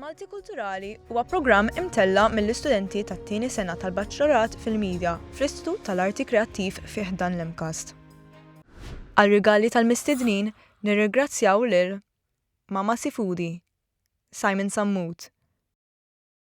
Maltikulturali huwa programm imtella' mill-istudenti tat-tieni sena tal-Baċċlorat fil-Midja fl-Istitut tal-Arti Kreattiv fi ħdan l-MCAST. Għar-rigali tal-mistednin nirrigrazzjaw lil Mama Sifudi, Simon Sammut,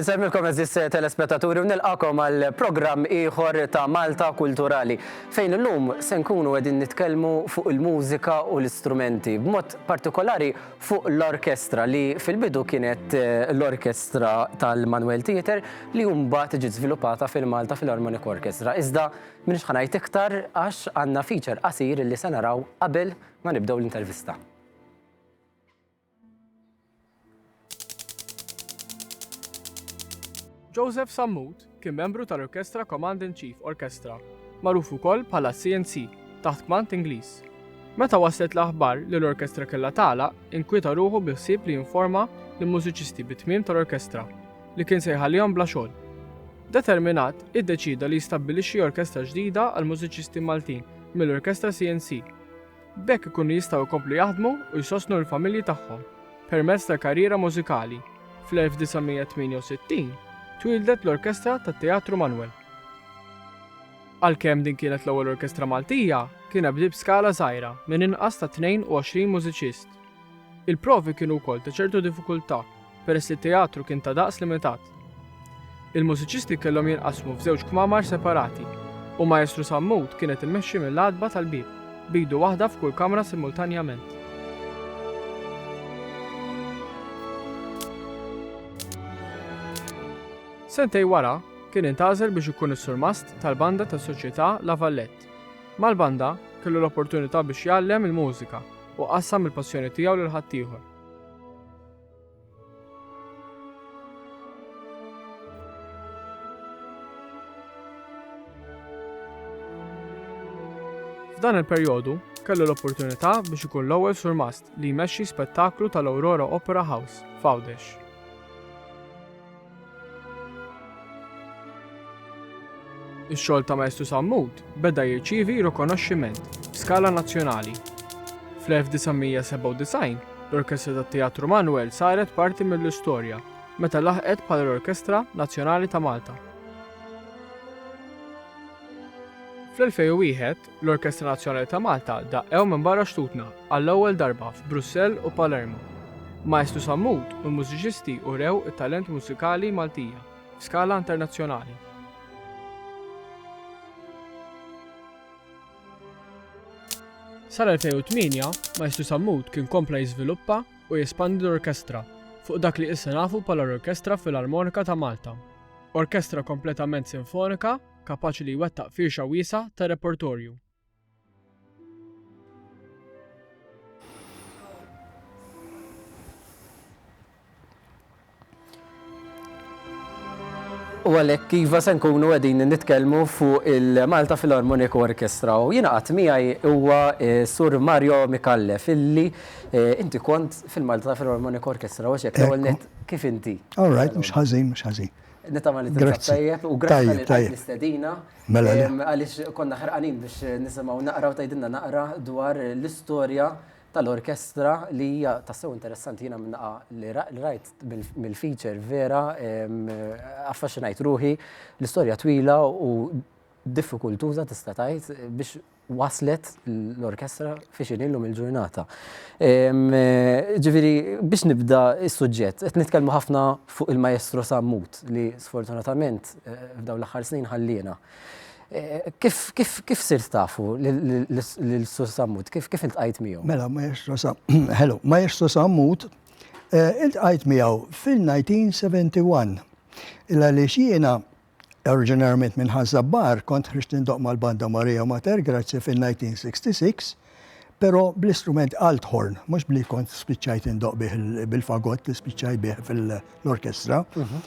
Insemmilkom eżis telespettaturi u nilqakom għal programm ieħor ta' Malta Kulturali fejn illum se nkunu qegħdin nitkellmu fuq il-mużika u l-istrumenti b'mod partikolari fuq l-orkestra li fil-bidu kienet l-orkestra tal-Manuel Theater li mbagħad ġiet żviluppata fil-Malta Philharmonic Orchestra. Iżda minix ħanajt iktar għax għandna feature qasir li se naraw qabel ma nibdew l-intervista. Joseph Sammut Kien membru tal-Orkestra Command in Chief Orchestra, magħruf ukoll bħala CNC, taħt kmand Ingliż. Meta waslet l-aħbar li l-orkestra kellha tagħlaq, inkwieta ruħu bi ħsieb li jinforma lill-mużiċisti bit-tmiem tal-orkestra, li kien se jħallihom bla xogħol. Determinat, iddeċieda li jistabbilixxi orkestra ġdida għall-mużiċisti Maltin mill-Orkestra CNC. B'hekk ikunu jistgħu jkomplu jaħdmu u jsostnu l-familji tagħhom permezz tal-karriera mużikali. Fl-1968 twieldet l-Orkestra tat-Teatru Manwel. Għalkemm din kienet l-ewwel orkestra Maltija, kienet bdiet b'skala żgħira minn inqas ta' 22 mużiċist. Il-provi kienu wkoll ta' ċertu diffikultà peress li t-teatru kien ta' daqs limitat. Il-mużiċisti kellhom jinqasmu f'żewġ kmamar separati u Maestru Sammut kienet immexxi mill-għatba tal-bieb b'idu waħda f'kull kamra simultanjament. Sentej wara, kien intgħażel biex ikun is-surmast tal-banda tas-Soċjetà La Vallette. Mal-banda, kellu l-opportunità biex jgħallem il-mużika u qassam il-passjoni tiegħu lil ħaddieħor. F'dan il-perjodu, kellu l-opportunità biex ikun l-ewwel surmast li jmexxi spettaklu tal-Aurora Opera House f'Għawdex. Ix-xogħol ta' Maestru Sammut beda jirċievi rikonoxximent f'skala nazzjonali. Fl-1997, l-Orkestra tat-Teatru Manuel saret parti mill-istorja meta laħqet bħala l-Orkestra Nazzjonali ta' Malta. Fl-2001, L-Orkestra Nazzjonali ta' Malta daqqew minn barra xtutna għall-ewwel darba f'Brussell u Palermo. Maestru Sammut u l-mużiċisti urew it-talent mużikali Maltija f'skala internazzjonali. Sal-2008, Maestru Sammut kien kompla jiżviluppa u jespandi l-orkestra fuq dak li issa nafu bħala l-Orkestra Filarmonika ta' Malta. Orkestra kompletament sinfonika kapaċi li jwettaq firxa wiesgħa ta' repertorju. U għalek iva se nkunu għedin nitkelmu fuq il-Malta Philharmonic Orchestra u jina għat miħaj huwa eh, Sur Mario Mikallef illi eh, inti kont fil-Malta Philharmonic Orchestra u xek l kif inti? All right, mux ħazin, mux ħazin. Nitama li tinsab tajjeb u grazzi tal-istedina. Mela li. Għalix konna ħarqanin biex nisimaw naqra u tajdinna naqra dwar l-istoria tal-orkestra li hija tassew interessanti jina minnaqa li rajt mill-feature vera affaxinajt ruħi l-istoria twila u diffikultuza tista' tajt biex waslet l-orkestra fi xini llum il-ġurnata. Ġifieri biex nibda s-suġġett, qed nitkellmu ħafna fuq il-Maestro Sammut li sfortunatament f'dawn l-aħħar snin ħalliena. Kif sirt tafu lil Sur Sammut? Kif iltqajt miegħu? Mela, Maestro Sammut, ħelu, Maestro Sammut iltqajt miegħu fil-1971. Għaliex jiena Oriġinarjament minn Ħaż-Żabbar, kont ħriġt nindoq mal-banda Maria Mater Gratia fin-1966, però bl-istrument althorn, mhux b'li kont spiċċajt indoq bih bil-fagott li spiċċajt bih fil-orkestra. Mhm.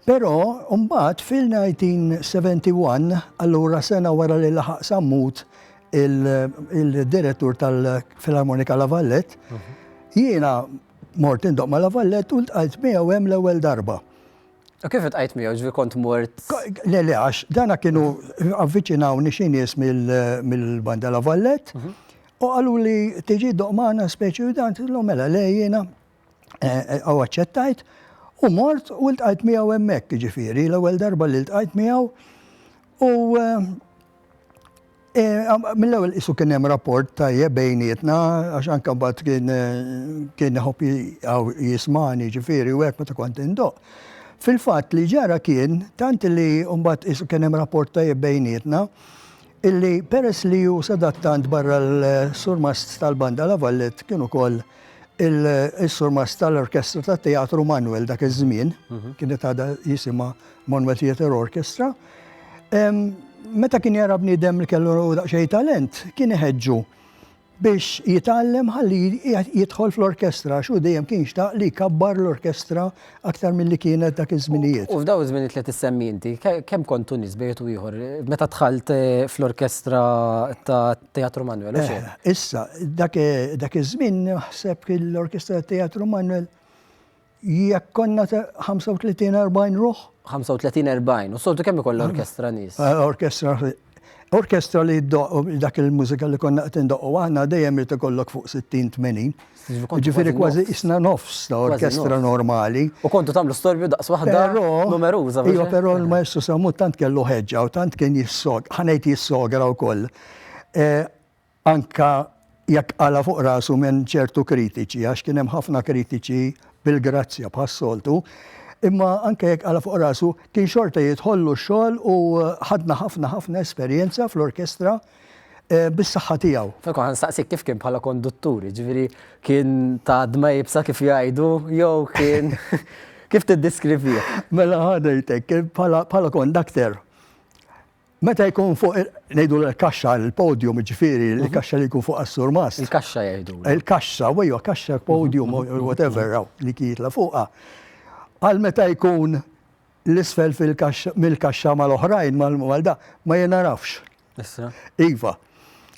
Però mbagħad fil-1971, allura sena wara li laħaq sammut il-direttur tal-Filarmonika La Vallette, mhm. jiena mort indoq ma' La Vallette u ntqajt miegħu hemm l-ewwel darba. U kif iltqajt miegħu, ġifieri kont mort? Le, le, għax dana kienu avviċinawni xi nies mill-Banda La Vallette u qaluli tiġi ddoqq magħna speċi u dan tilhom mela le jiena u aċċettajt u mort u ltqajt miegħu hemmhekk ġifieri l-ewwel darba li ltqajt miegħu u Mill-ewwel qisu kien hemm rapport tajjeb bejnietna għax anke mbagħad kien kien iħobb jismani ġifieri u hekk meta kont indoq. Fil-fatt li ġara kien tant li mbagħad qisu kien hemm rapport tajjeb bejnietna illi peress li hu sadattant barra l-surmast tal-Banda La Vallet kien ukoll il-surmast tal-Orkestra tat-Teatru Manwel dak iż-żmien, kienet għadha jisimha Manwel Theatre Orchestra, Meta kien jara bniedem li kellu daqsxejn talent, kien iħeġġu biex jitgħallem ħalli jidħol fl-orkestra xu dejjem kien xtaq li jkabbar l-orkestra aktar milli kienet dak iż-żminijiet. U f'daw iż-żminijiet li qed issemmi inti, kemm kontu nies bejn wieħed u ieħor meta dħalt fl-orkestra tat-Teatru Manwel, u xejn? Issa, dak iż-żmien naħseb li l-orkestra tat-Teatru Manwel Jekk konna 35-40 ruħ? 35-40, u soltu kemm ikoll orkestra nies? Eh, orkestra, orkestra li dak il-mużika li konna qed indoqqu aħna dejjem irid ikollok fuq 60-80. Ġifieri kważi isna nofs ta' orkestra normali. U kontu tagħmlu storbju daqs waħda numeruża. Iva, però l-Maestru Samu tant kellu ħeġġa u tant kien jissog, ħanejt jissogra wkoll. Eh, anke jekk qala' fuq rasu minn ċertu kritiċi, għax kien hemm ħafna kritiċi bil-grazzja bħas-soltu, imma anke jekk qala' fuq rasu, kien xorta jidħollu x-xogħol u ħadna ħafna ħafna esperjenza fl-orkestra bis-saħħa tiegħu. Franco, ħa nistaqsik kif kien bħala konduttur, jiġifieri kien ta' dma iebsa kif jgħidu jew kien kif tiddiskrivih? Mela ħa ngħidlek, bħala kondakter, Meta jkun fuq, nejdu l-kaxxa, l-podium, ġifiri, l-kaxxa li jkun fuq għas-surmas. Il-kaxxa jgħidu. Il-kaxxa, wejju, kaxxa, podium, whatever, li kietla fuqa. Għal meta jkun l-isfel mill-kaxxa mal-oħrajn, mal-da, ma jenarafx. Iva.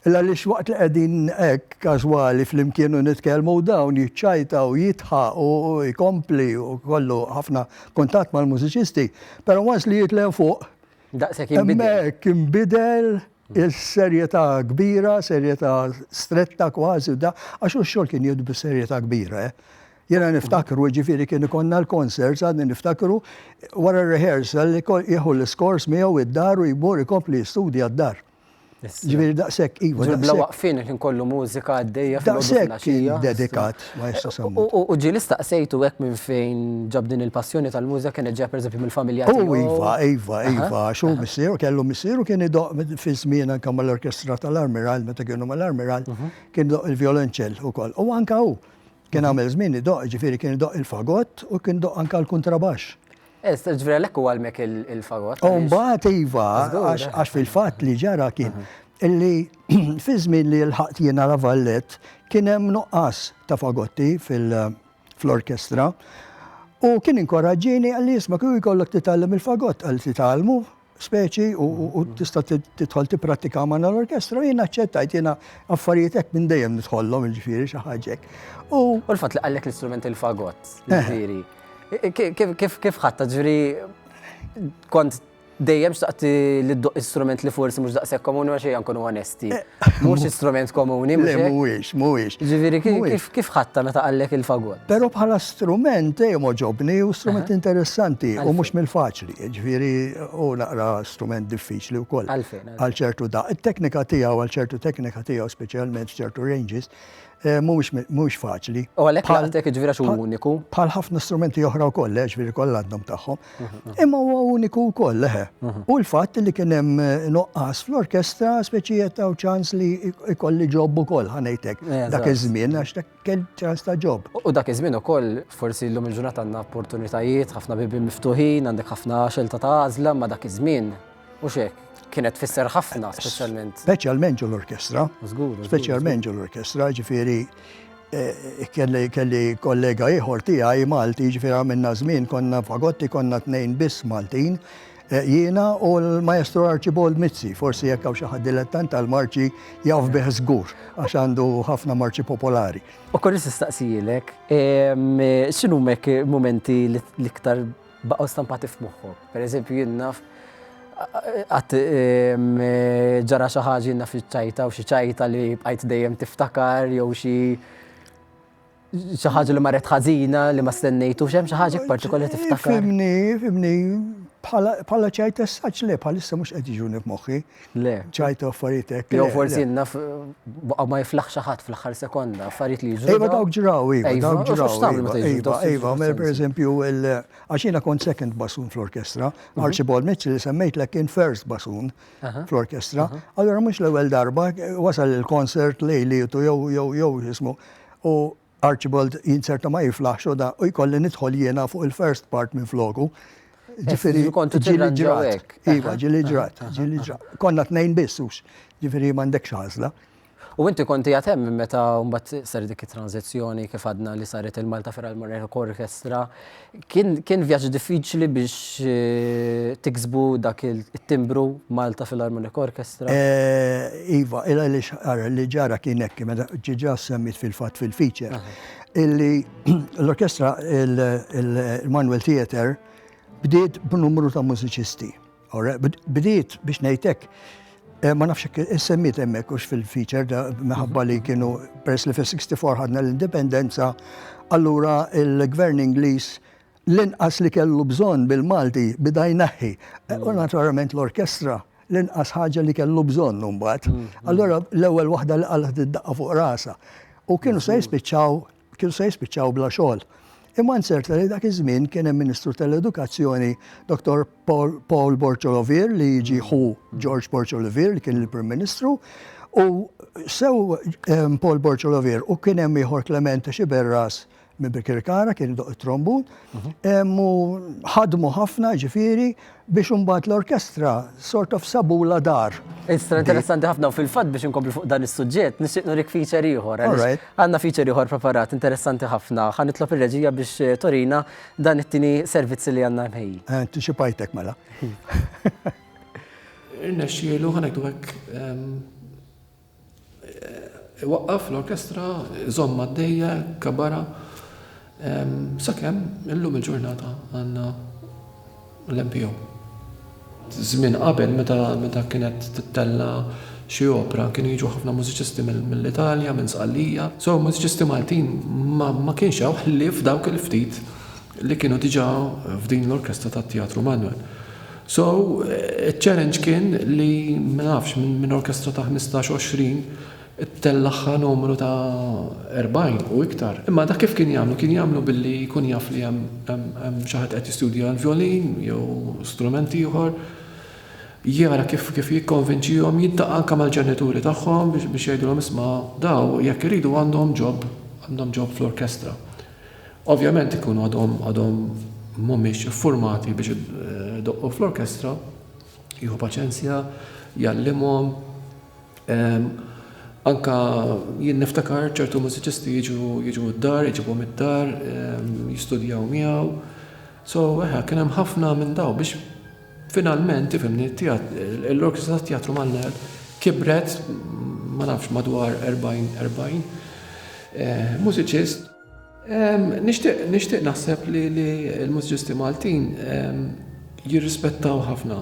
Illa li xwaqt li għedin ek kazwali fl-imkienu nitkelmu dawn jitċajta u jitħa u jkompli u kollu ħafna kontat mal-mużiċisti, pero għas li jitlen fuq Daqshekk inbidel. Hemmhekk inbidel is-serjetà kbira, serjetà stretta kważi u da, għax hu x-xogħol kien jieħdu bis-serjetà kbira. Eh. Jena niftakru, ġifiri kien ikonna l-concerts, għadni niftakru, wara rehearsal, jieħu l-iskors miegħu id-dar u jmur ikompli jistudja d-dar. Ġifieri daqshekk iva. Ġifieri bla waqfien il-ħin kollu mużika għaddejja fil-għodu dedikat ma jistax semmu. U ġieli staqsejtu hekk minn fejn ġab din il-passjoni tal-mużika kienet ġejja pereżempju mill-familja tiegħu? U iva, iva, iva, għax hu missieru kellu missieru kien idoqq fi żmien anke mal-orkestra tal-Armiral meta kienu mal-Armiral kien idoqq il-vjolonċell ukoll. U anke hu Kien għamel żmien idoqq, jiġifieri kien idoqq il-fagott u kien idoqq anke l-kuntrabaxx. Eh, jiġifieri għalhekk huwa għalmek il-fagott. U mbagħad iva, għax fil-fatt li ġara kien illi fi żmien li lħaqt jiena La Vallett kien hemm nuqqas ta' fagotti fil-orkestra u kien inkoraġġini għalli jisma' kieku jkollok titgħallem il-fagott għal titgħallmu speċi u mm-hmm. tista' tidħol tipprattika ma' l-orkestra, jien aċċettajt jiena affarijiet hekk minn dejjem nidħollhom il-ġifieri xi ħaġek. U l-fatt li qallek l-istrument il-fagott, eh. ġifieri. Kif ħatta ġifieri kont dejjem xtaqt li d-doq istrument li forsi mhux daqshekk komuni għax ejja nkunu Mhux strument komuni, mhux? Le, mhuwiex, mhuwiex. Ġifieri kif ħatta meta qallek il-fagot? Però bħala strument dejjem oġobni u strument interessanti u mhux mill-faċli. Ġifieri hu naqra strument diffiċli wkoll. Għalfejn? Għal ċertu daqq. It-teknika tiegħu, għal ċertu teknika tiegħu, speċjalment f'ċertu ranges, Mhuwiex faċli. U għalhekk għalhekk ġifieri għax hu uniku. Bħal ħafna strumenti oħra wkoll, eh, ġifieri kollha għandhom tagħhom. Imma huwa uniku wkoll, leħe. Eh. U l-fatt li kien hemm eh, noqqas fl-orkestra speċi ta' ċans li jkolli ġob ukoll ħanejtek dak iż-żmien għax dak kien ċans ta' ġob. U dak iż-żmien ukoll forsi llum il-ġurnata għandna opportunitajiet, ħafna bibi miftuħin, għandek ħafna xelta ta' għażla ma' dak iż-żmien Mhux hekk, kienet tfisser ħafna speċjalment. Speċjalment ġol orkestra Speċjalment ġol orkestra ġifieri eh, kelli kelli kollega ieħor tiegħi Malti, ġifieri għamilna żmien konna fagotti konna tnejn biss Maltin Eh, jiena u l-maestro Archibald Mizzi, forsi jekk hawn xi ħadd dilettant tal-marċi jaf bih żgur għax għandu ħafna marċi popolari. U kolli nistaqsijilek, x'inhu mek momenti l-iktar baqgħu stampati f'moħħok. Per eżempju jien naf qatt ġara xi ħaġa jien naf iċ-ċajta u xi ċajta li bqajt dejjem tiftakar jew xi xi ħaġa li marret ħażina li ma stennejtu xem xi ħaġa partikolari tiftakar. Fimni, fimni, bħala ċajt essaċ le bħalissa mhux qed jiġuni f'moħħi. Le. ċajtu affarijiet hekk. Jew forsi naf baqa' ma jiflaħ xi ħadd fl-aħħar sekonda, affarijiet li jiġru. Iva dawk ġraw, iva, iva dawk ġraw. Iva, iva, iva mela pereżempju għax jiena kont second basun fl-orkestra, mhm. Archibald Mitchell li semmejtlek kien first basun fl-orkestra. Allura mhux l-ewwel darba wasal il-konsert lejli jew jew jew jismu. U Archibald jinzerta ma jiflaħx u da u jkolli nidħol jiena fuq il-first part minn floku. Ġifiri, ġili ġrat. Iva, ġili ġrat, ġili ġrat. Konna t-nejn bissux, ġifiri mandek xazla. U inti konti għatem minn meta mbagħad ser dik it-tranzizzjoni kif għadna li saret il-Malta Feral Moreno Orchestra, Kien kien vjaġġ diffiċli biex tiksbu dak it-timbru Malta Philharmonic Orchestra? Iva, il għaliex ara li ġara kien hekk, meta diġà semmejt fil-fatt fil-feature, illi l-orkestra il-Manuel Theatre bdiet b'numru ta' mużiċisti. Ora, bdiet biex ngħidlek eh, ma nafx issemmiet hemmhekk hux fil-feature da minħabba li kienu peress li fil-64 ħadna l-indipendenza, allura il-gvern Ingliż l-inqas li kellu bżonn bil-Malti bida jnaħħi. Eh, u mm. naturalment l-orkestra l-inqas ħaġa li kellu bżonn mbagħad. Mm, mm. Allura l-ewwel waħda li qalet id-daqqa fuq rasa. U kienu se jispiċċaw kienu se jispiċċaw bla xogħol. Imma nzerta li dak iż-żmien kien hemm Ministru tal-Edukazzjoni Dr. Paul Borċolovier li jiġi ħu George Borċolovier li kien il-Prim Ministru u sew ehm, Paul Borċolovier u kien hemm ieħor Clement Xiberras minn Bikirkara kien doq it-trombun mhm. ehm, u ħadmu ħafna ġifieri biex imbagħad l-orkestra sort of sabulha dar. Istra interessanti ħafna u fil-fatt biex inkomplu fuq dan is-suġġett nixtieq nurik feature ieħor. Għandna feature ieħor preparat interessanti ħafna. Ħa nitlob ir-reġija biex eh, torina dan it-tieni servizzi li għandna mħej. Anticipajtek mela. Irnexxielu ħanektu hekk ehm, Iwaqqaf l-orkestra, iżomm għaddejja, ikkabbara, sakemm illum il-ġurnata għandna l-MPO. Żmien qabel meta kienet tittella' xi opra kienu jiġu ħafna mużiċisti mill-Italja, minn Sqallija. So mużiċisti Maltin ma kienx hawn ħlief dawk il-ftit li kienu diġà f'din l-orkestra tat-Teatru Manwel. So, iċ-challenge kien li, ma nafx, minn orkestra ta' ħmistax, għoxrin, ittellagħha numru ta' erbgħin u iktar. Imma dak kif kien jagħmlu? Kien jagħmlu billi jkun jaf li hemm xi ħadd qed jistudja l-vjolin jew strument ieħor, jara kif jikkonvinċihom, jiltaqa' anke mal-ġenituri tagħhom biex jgħidilhom isma' daw jekk iridu għandhom ġob, għandhom ġob fl-orkestra. Ovvjament ikunu għadhom għadhom mhumiex iffurmati biex idoqqu fl-orkestra, jieħu paċenzja, jgħallimhom. Anke jien niftakar ċertu mużiċisti jiġu jiġu d-dar, iġibhom id-dar, jistudjaw miegħu. So, eħe, kien hemm ħafna minn daw biex finalment, tifhimni, l-orkestra tat-Teatru Malner kibret, ma nafx, madwar erbgħin erbgħin mużiċist. Nixtieq naħseb li l-mużiċisti Maltin jirrispettaw ħafna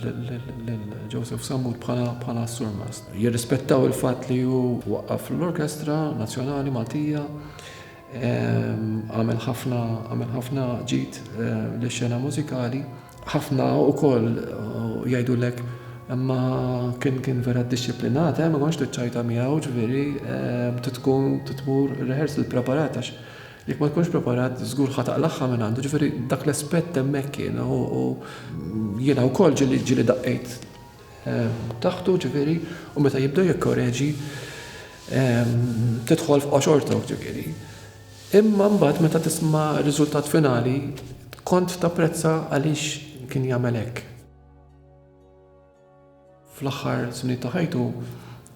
lil Joseph Sammut bħala surmast. Jirrispettaw il-fatt li hu waqqaf l-Orkestra Nazzjonali Maltija, għamel ħafna ġid lix-xena mużikali. Ħafna wkoll jgħidulek imma kien kien vera ddixxiplinat, eh, ma kontx tiċċajta miegħu, ġifieri trid tkun tmur rehearsal preparat għax jekk ma tkunx preparat żgur ħa taqlagħha minn għandu, ġifieri dak l-aspett hemmhekk kien u jiena wkoll ġieli ġieli daqqejt taħtu ġifieri u meta jibda jikkoreġi tidħol f'qoxortok ġifieri. Imma mbagħad meta tisma' r-riżultat finali kont tapprezza għaliex kien jagħmel hekk. Fl-aħħar snin ta' ħajtu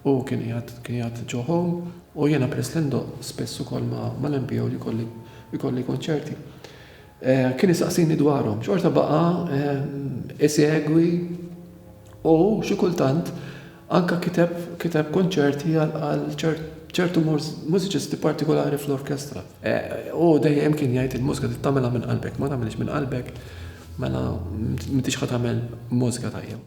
hu kien qiegħed kien qiegħed ġo home u jiena peress li ndoqq spiss ukoll ma' mal-MPO li jkolli jkolli konċerti. Kien isaqsini dwarhom. Xorta baqa' isegwi U xi kultant anke kiteb kiteb konċerti għal ċertu mużiċisti partikolari fl-orkestra. U dejjem kien jgħid il-mużika trid tagħmilha minn qalbek, ma tagħmilhiex minn qalbek mela m'intix ħa tagħmel mużika tajba.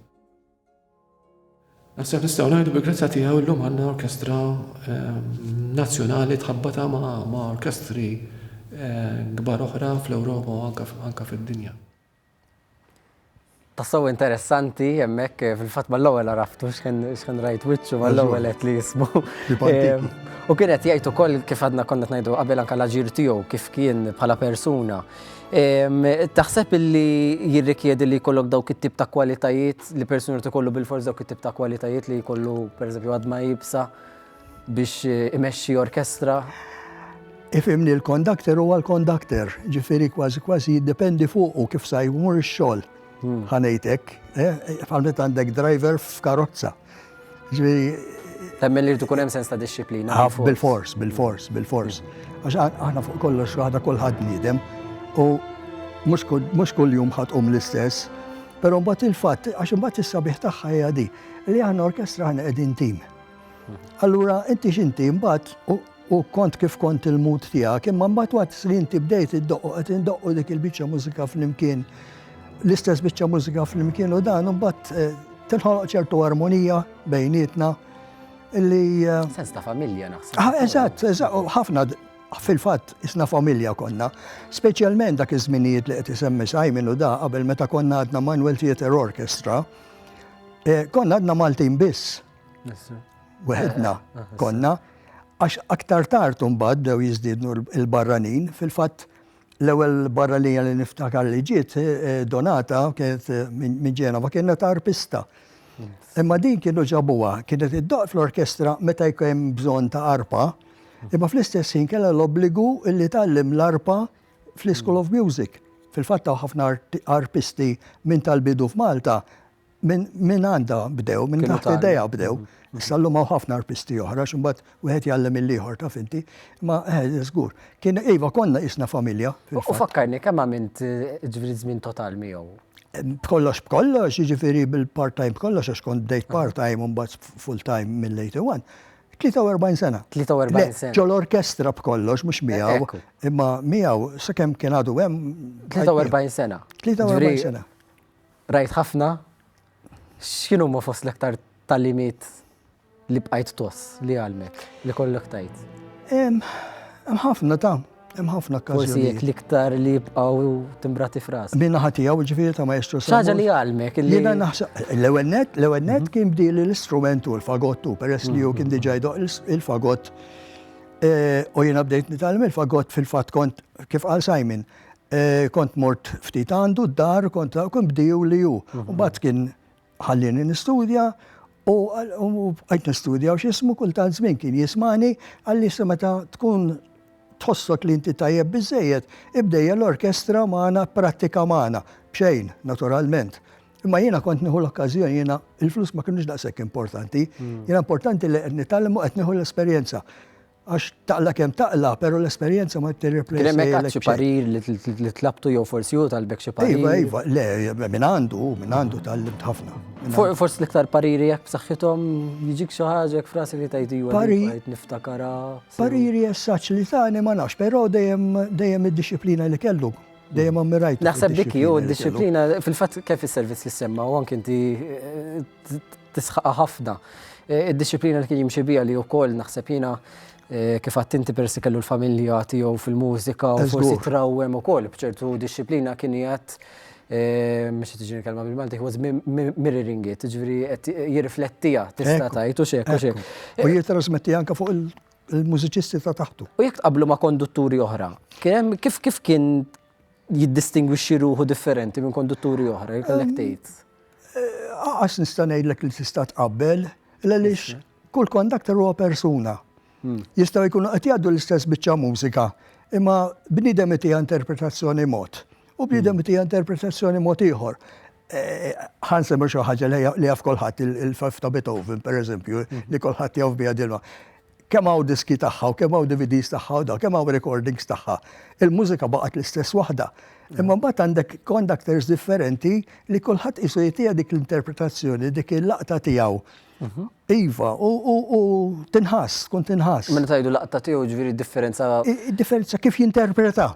Naħseb nistgħu ngħidu bil-grazzja tiegħu llum għandna orkestra nazzjonali tħabbatha ma' orkestri kbar oħra fl-Ewropa u anke fid-dinja. Tassew interessanti hemmhekk eh, fil-fatt mal-ewwel għaraftu x'kien rajt wiċċu mal-ewwel qed li jismu. Eh, u kien qed jgħid ukoll kif għadna konna ngħidu qabel anke l-aġir tiegħu kif kien bħala persuna. Taħseb illi jirrikjedi li jkollok dawk it-tip ta' kwalitajiet li persuna tkollu bil-forz dawk it-tip ta' kwalitajiet li jkollu pereżempju għadma jibsa. biex imexxi orkestra. Ifhimni l-kondakter huwa l-kondakter, ġifieri kważi kważi jiddependi fuqu kif sa jmur ix-xogħol. Hmm. Ħanejtek, bħal eh, għandek driver f'karozza. Ġifieri Temmen li tkun hemm sens ta' disċiplina. Ah, bil-fors, bil-fors, bil-fors. Għax aħna fuq kollox waħda kulħadd niedem u mhux kull jum ħatqum l-istess, però mbagħad il-fatt għax imbagħad is-sabiħ tagħha hija di li għandna orkestra għandna qegħdin tim. Allura inti x'inti mbagħad u kont kif kont il-mut tiegħek, imma mbagħad waqt li inti bdejt iddoqqu qed indoqqu dik il-biċċa mużika flimkien, l-istess biċċa mużika flimkien u dan mbagħad eh, tinħoloq ċertu armonija bejnietna illi. Eh, Sens ta' familja naħseb. Ah, eżatt, eżatt, ħafna fil-fatt isna familja konna, speċjalment dak iż-żminijiet li qed isemmi Simon u da qabel meta konna għadna Manuel Theater Orchestra, eh, konna għadna Maltin biss Weħedna konna, għax aktar tard mbagħad dew jiżdiednu l-barranin, fil-fatt l-ewwel barranija li niftakar li ġiet eh, eh, donata kienet eh, minn Ġenova kienet arpista. Imma din kienu ġabuha, kienet id-doq fl-orkestra meta jkun bżonn ta' arpa, imma fl-istess ħin kellha l-obbligu li tgħallim l-arpa fl-School of Music. Fil-fatt ħafna arpisti minn tal-bidu f'Malta Minn għandha bdew, minn taħt idejha bdew. Issa llum hawn ħafna arpisti oħra, x'imbagħad wieħed jgħallem il-ieħor taf inti. Ma eh, żgur. Kien iva konna isna familja. U fakkarni kemm għamilt eh, ġifieri żmien total miegħu. B'kollox b'kollox, jiġifieri bil-part-time b'kollox għax kont bdejt part-time u mbagħad full-time mill-81. 43 sena. 43 sena. Ġol orkestra b'kollox, mhux miegħu. Imma miegħu, sakemm kien għadu hemm. 43 sena. 43 sena. Qrajt ħafna, x'inhuma fost l-aktar tagħlimiet li bqajt tgħoss li għallmek, li kollok tajt? Hemm ħafna ta' hemm ħafna każi. Forsi jekk l-iktar li jibqgħu timbrati fras. Min naħa tiegħu ġifieri ta' maestru sa. Ħaġa li għalmek. Jiena naħseb l-ewwel net, l-ewwel net mhm. kien bdieli l-istrumentu l-fagottu peress li hu kien mhm. diġà jdoq il-fagott. Eh, u jiena bdejt nitgħallem il-fagott fil-fatt kont kif qal Simon Kont mort ftit għandu d-dar, kont kien bdiju li hu. Mbagħad kien ħallieni nistudja u għajt nistudja u x'ismu kultant żmien kien jismani għalli se meta tkun tħossok li inti tajjeb biżejjed, ibdejja l-orkestra magħna prattika magħna. B'xejn, naturalment. Imma jiena kont nieħu l-okkażjoni jiena il-flus ma kinux daqshekk importanti. Jiena importanti li qed nitgħallem u qed nieħu l-esperjenza. Għax taqla kemm taqla, pero l-esperjenza ma tirreplejsa. Kien hemm xi parir li tlabtu jew forsi hu talbek xi parir. Iva, iva, le, minn għandu, minn għandu tal-libt ħafna. Forsi l-iktar pariri jekk b'saħħithom jiġik xi ħaġa jekk frasi li tajt iva niftakara. Pariri jessaċ li tani ma nafx, però dejjem dejjem id-disciplina li kellu dejjem ammirajt. Naħseb dik jew id-disciplina fil-fatt kif is-servizz li semma u anke inti eh, tisħaqha ħafna. Eh, id-disciplina li kien jimxi bija li wkoll naħseb jiena eh, kif għattinti persi kellu l-familja tiegħu fil-mużika u forsi trawwem ukoll bċertu disciplina kien jgħat eh, mux tiġini kelma bil-Malti, was mirroring it, ġviri jirriflettija, tista tajtu xek, u xek. U jitrasmetti anka fuq il-mużiċisti ta' taħtu. U jek qablu ma' kondutturi oħra, kif kien jiddistingwixxi ruħu differenti minn kondutturi oħra, jkollek tgħid. Għax nista' ngħidlek li tista' tqabbel, għaliex kull kondakter huwa persuna. Hmm. Jistgħu jkunu qed jgħaddu l-istess biċċa mużika, imma bniedem itija interpretazzjoni mod u bniedem hmm. itija interpretazzjoni mod ieħor. Eh, ħan semmu xi ħaġa li jaf kolħat il-faf ta' Beethoven, per eżempju, hmm. li kolħat jaf bija dilma. Kemm hawn diski tagħha u kemm hawn DVDs tagħha u dawk, kemm hawn recordings tagħha. Il-mużika baqgħet l-istess waħda. Imma mbagħad għandek conductors differenti li kulħadd qisu jagħtiha dik l-interpretazzjoni, dik il-laqta tiegħu. Mhm. Iva, u tinħass, tkun tinħass. Minn tajdu laqta tiegħu ġifieri differenza. Differenza kif jinterpreta.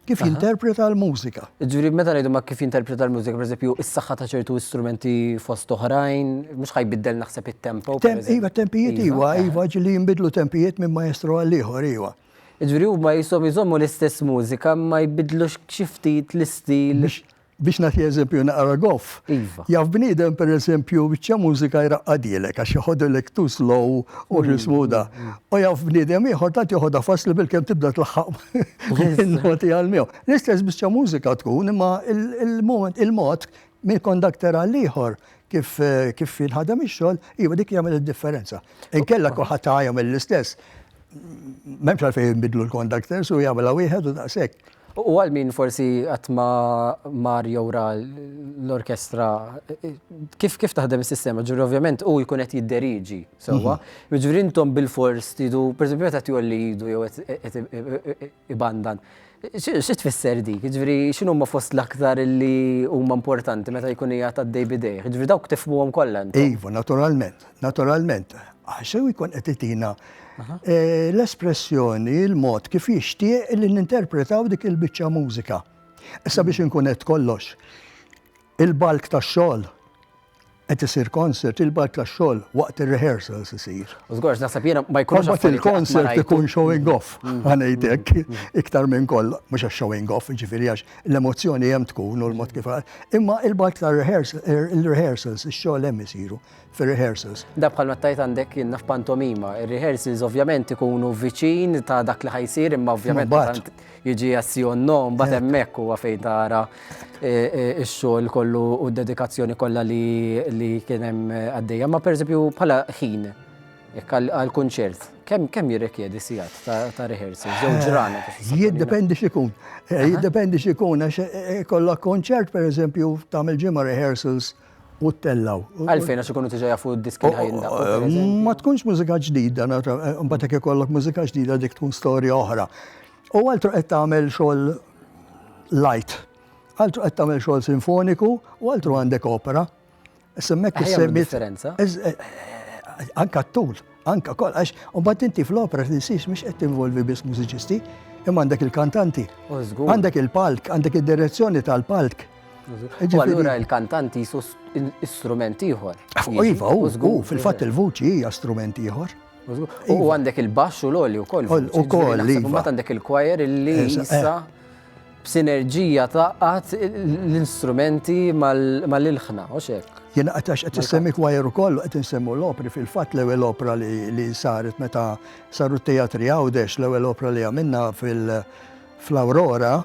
Kif jinterpreta l-mużika? Ġuri, meta ngħidu ma kif jinterpreta l-mużika, per eżempju, is-saħħa ta' ċertu istrumenti fost oħrajn, mhux ħajbiddel naħseb it-tempo. Iva, tempijiet iva, iva, iva ġili jinbidlu tempijiet minn maestru għal ieħor iva. Ġuri, huma jisom jżommu l-istess mużika ma jbidlux xi ftit l-istil. Biex nagħti eżempju naqra goff. Iva. Jaf bniedem pereżempju biċċa mużika jraqqadilek għax joħodilek too slow u x'ismu da. U jaf bniedem ieħor tant joħodha faċli bilkemm tibda tlaħħaq in-noti għal miegħu. L-istess biċċa mużika tkun imma il-moment il-mod minn kondakter għal ieħor kif kif jinħadem ix-xogħol, iva dik jagħmel id-differenza. Inkella kulħadd ta' jagħmel l-istess. M'hemmx għalfejn jinbidlu l-kondakters u jagħmilha wieħed u daqshekk. U għal min forsi qatt ma mar jew ra l-orkestra, kif kif taħdem is-sistema? Ġifieri ovvjament hu jkun qed jidderieġi sewwa, jiġifieri intom bilfors tridu, pereżempju meta qed jgħolli idu jew qed ibandan, xi tfisser dik? Jiġifieri x'inhuma fost l-aktar li huma importanti meta jkun qiegħed għaddej b'idejh? Jiġifieri dawk tifhmuhom kollha intom? Iva, naturalment. Naturalment, għax u jkun qed itina eh, l-espressjoni, il-mod kif jixtieq li ninterpretaw dik il-biċċa mużika. Issa biex inkun qed kollox, il-balk ta' xogħol qed isir concert, il-balk ta' xogħol waqt ir-rehearsals isir. Żgorx naħseb jiena ma jkunx Kombat il-concert ikun showing off, mm. għanejdek, mm. mm. iktar minn koll, mhux għax showing off, ġifieri għax l-emozzjoni hemm tkun u l-mod kif. Imma il-balk ta' er, il-rehearsals, ix-xogħol hemm isiru. fir-rehearsals. Dan bħal meta tgħid għandek jiena f'pantomima, ir-rehearsals ovvjament ikunu viċin ta' dak li ħajsir imma ovvjament tant jiġi azzjon nom bad hemmhekk huwa fejn tara x-xogħol kollu u d-dedikazzjoni kollha li kien hemm għaddejja. Ma pereżempju bħala ħin għal kunċert, kemm jirrikjedi sigħat ta' rehearsal, jew ġrana? Jiddependi x'ikun. Jiddependi x'ikun għax ikollok kunċert pereżempju tagħmel ġimgħa rehearsals. u ttellgħu. Għalfejn għax ikunu diġà jafu d-diski li ħajindaqqu, pereżempju? Ma tkunx mużika ġdida, imbagħad jekk ikollok mużika ġdida dik tkun storja oħra. U altru qed tagħmel xogħol light, altru qed tagħmel xogħol sinfoniku u altru għandek opera. Semmek is-semmi. Anka t-tul. Anke wkoll għax imbagħad inti fl-opera tinsiex mhux qed tinvolvi biss mużiċisti, imma għandek il-kantanti, għandek il-palk, għandek id-direzzjoni tal-palk. U allura il-kantanti jisu strument ieħor. Iva, u fil-fatt il-vuċi hija strument ieħor. U iva. għandek il-baxx u l-oli wkoll. U koll. Iva. Mbagħad għandek il-kwajer li jissa. Eh, b'sinerġija tgħaqqad l-instrumenti mal-ilħna, hux hekk? Jien qed għax qed issemmi kwajer ukoll u qed insemmu l-opri, fil-fatt l-ewwel opra li saret meta saru t-teatri Għawdex, l-ewwel opra li għamilna fl-Awrora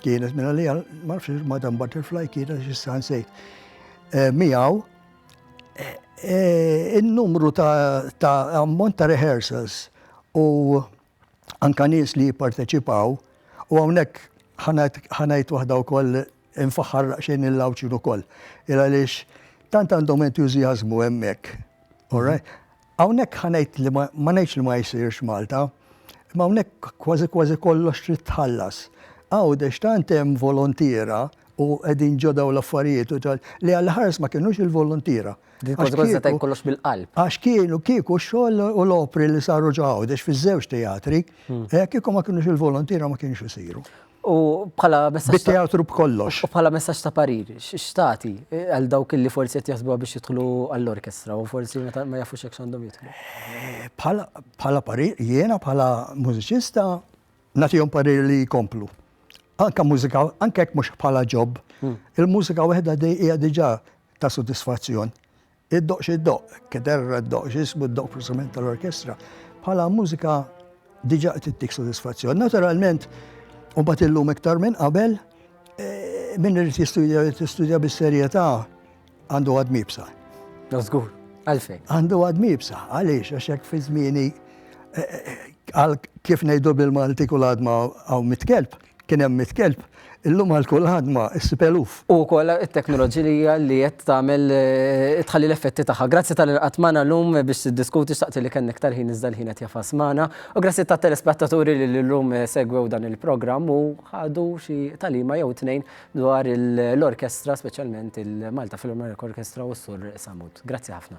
kienet minn għalija, ma nafx Madam Butterfly kienet x'issa nsejt. Eh, miegħu eh, eh, in-numru ta' ammont ta' rehearsals u anke nies li jipparteċipaw u hawnhekk ħa ngħid ħa ngħid waħda wkoll infaħħar daqsxejn il-Għawdxin ukoll. Il għaliex tant għandhom entużjażmu hemmhekk. All right? Hawnhekk ħa ngħid li ma ma ngħidx li ma jsirx Malta, imma hawnhekk kważi kważi kollox trid tħallas. Għawdex tant hemm volontiera u qegħdin ġo dawn l-affarijiet u tal- li għall-ħares ma kinux il-volontiera. Din konsegwenza ta' kollox bil-qalb. Għax kienu kieku x-xogħol u l-opri li saru ġawdex fiż-żewġ teatri, eh, kieku ma kienux il-volontira ma kienux isiru. U bħala messaġġ. Bit-teatru b'kollox. U bħala messaġġ ta' parir, x'tati eh, għal dawk li forsi qed jaħsbuha biex jidħlu għall-orkestra u forsi ma jafux hekk x'għandhom jidħlu. Eh, bħala parir, jiena bħala mużiċista nagħtihom parir li jkomplu. Anka mużika, anke jekk mhux bħala ġob. Hmm. Il-mużika waħda hija diġà ta' sodisfazzjon. Id-doqq x'id-doqq, kederra d-doqq x'ismu d-doqq preżament tal-orkestra, bħala mużika diġà qed ittik sodisfazzjon. Naturalment, u bat illum iktar minn qabel, eh, minn irid jistudja irid jistudja bis-serjetà għandu għad mibsa. Żgur, għalfejn. Għandu għad mibsa, għaliex għax hekk fi żmieni eh, eh, għal kif ngħidu bil-Malti kull għadma hawn mitkelb. Kien hemm mitt kelb, illum għal kull ħadma issib eluf. U wkoll it-teknoloġilija li qed tagħmel tħalli l-effetti tagħha. Grazzi tal-li lqgħet magħna llum biex tiddiskuti, xtaqt li kellna iktar ħin iżda l-ħin qed jafas magħna. U grazzi tat-telespettaturi li llum segwew dan il-programm u ħadu xi tagħlima jew tnejn dwar l-orkestra speċjalment il-Malta Philharmonic Orchestra u s-Sur Sammut. Grazzi ħafna.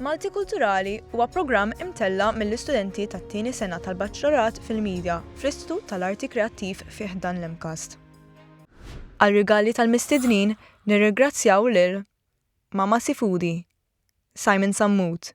Malti Kulturali huwa programm imtella mill-istudenti tat-tieni sena tal-Baċċelorat fil-Media fl-Istitut tal-Arti Kreattiv fih dan l-imkast. Għal rigali tal-mistednin nirringrazzjaw lil Mama Sifudi, Simon Sammut.